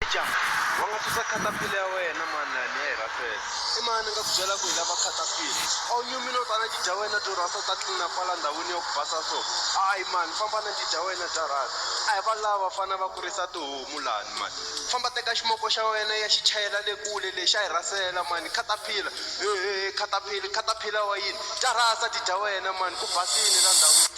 Aja, va nga susa caterpillar ya wena mani lani ya hi rhasela i mani ni nga ku byela ku hi lava caterpillar a wu nyumi no tana ti dya wena byo rhasa ta tlina kwala ndhawini ya ku basa so hayi mani famba na ti dya wena bya rhasa a hi va lava fana va kurisa tihomu lani mani famba teka ximoko xa wena ya xi chayela le kule lexi a hi rhasela mani caterpillar hehe caterpillar caterpillar wa yini ta rhasa ti dya wena mani ku basile la ndhawini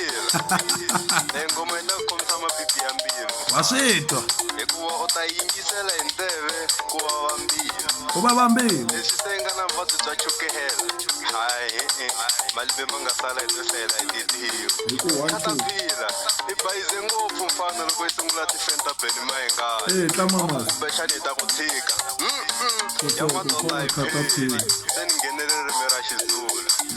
e ngoma yi ta ku kombisa mapipi ya mbilu wa swi twa hikuva u ta yingisela hi ndleve ku vava mbilu ku vava mbilu leswi se nga na vuvabyi bya chukehela hayi e-e. malembe ma nga sala hi to hlayela hi titiyo katapila i bayize ngopfu mfana loko yi sungula tifenta beni mayengana ee tlamamasi kumbexani hi ta ku tshika Mm-mm. ya madola hi Katapila. beni se ni nghenele ririmi ra xizulu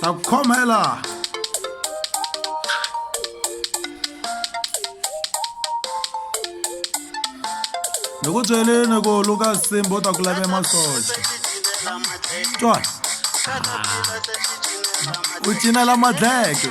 ta ku khoma hi laha ni ku byeleni ku luka simbo ta ku lave masocha twa u cinela madleke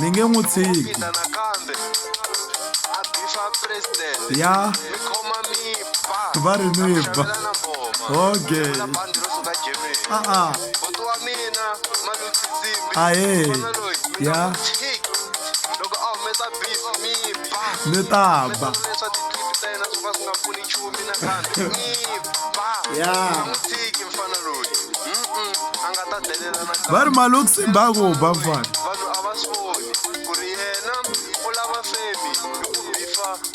ni nge n'wi tshiki ya va ri ni ba okay a-a ahe ya ni ta ba ya va ri maloxi mbango ba mfana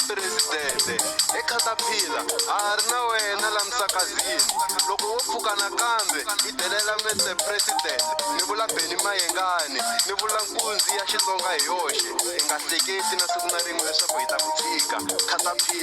presidente ekhatapila a ha ri na wena la misakazini loko wo pfuka nakambe yi delela mese president ni vula beni mayengani ni vula nkunzi ya xitsonga hi yoxe hi nga hleketi na siku na rin'we leswaku hi ta ku tshika khatapila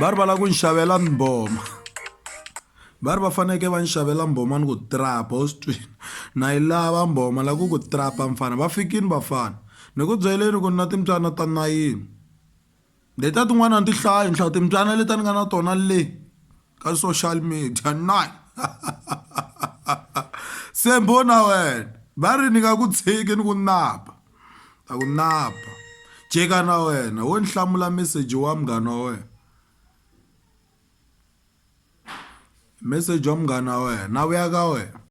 va ri va lava ku ni xavela mboma va ri va fanekele va ni xavela mboma ni ku trapa u swi twini na yi lava mboma la ku ku trapa mfana va fikini vafana ni ku byeleni ku ni na timbyana ta nayini letiya tin'wana a ni ti hlayi ni hlaya timbyana leti a ni nga na tona le ka social media nine se mbho na wena va ri ni nga ku tshiki ni ku napa. ta ku napa jeka na wena wo ni hlamula meseji wa munghana wa wena meseji wa munghana wa wena na vuya ka wena